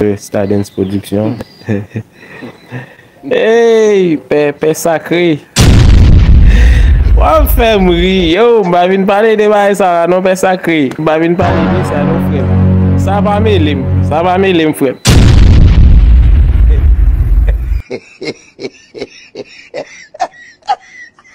Pè stadens production Eyy pè pè sakre Wap fèm ri yo m pa vin pale de bagay sa la non pè sakre m pa vin pale de sa non frèm sa pa melem sa pa melem frèm.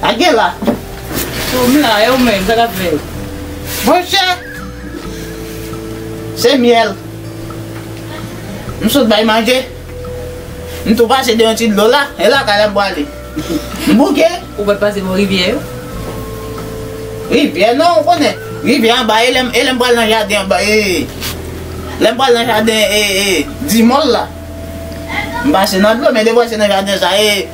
Sa gen la? Tou m la, e ou menm, sa k ap fèt? Monchè! Se myèl. M sot bay manje. M tou pase de yon ti dlo la, e lakay la m prale. M bouke. Ou pa t pase bò rivyè yo? Rivyè non, ou konnen, rivyè anba, e lè m, e lè m pral nan jaden anba, e, lè m pral nan jaden, e, e, Dimòl la, m pase nan dlo, men depi w pase nan jaden sa, e.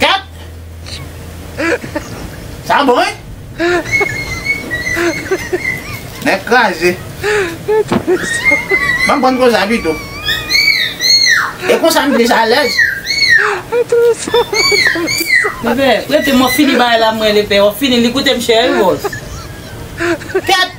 Kat! Sa bon wi! Nèg kraze! Banm pran gwo sa pito! E konsa m plis alèz! Lepè, rete mwen fini bagay la mwen lepè wap fini li koute m chè wi boss. Kat!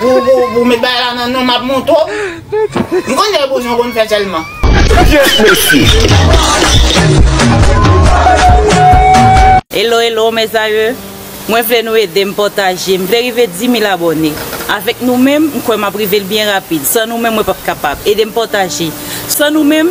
Pou met bagay la nan non map monte w. M konn fè boujon konn fè sèlman. Yes mesye. Hello hello mes aeux Mwen vle nou edem pataje m vle rive 10000 abòne avèk nou menm m kwè map rivel byen rapid san nou menm mwen pap kapab edem pataje san nou menm.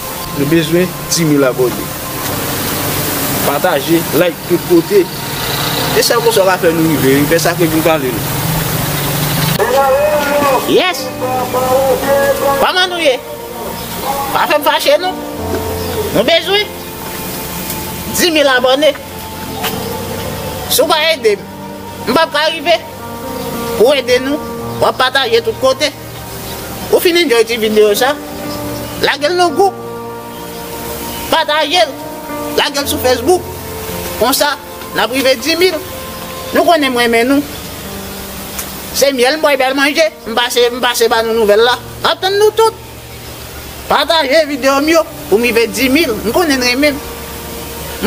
Nou bezwen 10000 abone. Pataje, like tout kote. E sèl konsa w ka fè nou rive wi. Fè sa ke vin pale nou. Yes! Koman nou ye? Pa fè m fache non. Nou bezwen 10000 abone. Si w pa ede m, m pap ka rive. Pou w ede nou, w ap pataje tout kote. Ou fin enjoy ti video sa? Lagel nan group. Patajel. Lagel sou Facebook. Konsa nap rive 10000. Nou konnen m renmen nou. Se myèl m bwè bèl manje. M pase m pase ba nou nouvèl la. Map tann nou tout. Pataje video m yo pou m rive 10000. M konnen n renmen m.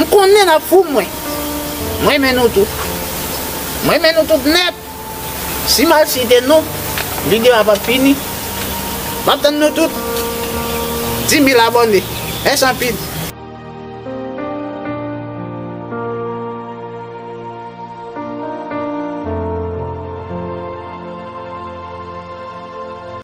M konnen nap fou mwen. M renmen nou tout. M renmen nou tout nèt. Si mal site non, video a pap fini. Map tann nou tout. 10000 abone. Mèsi anpil.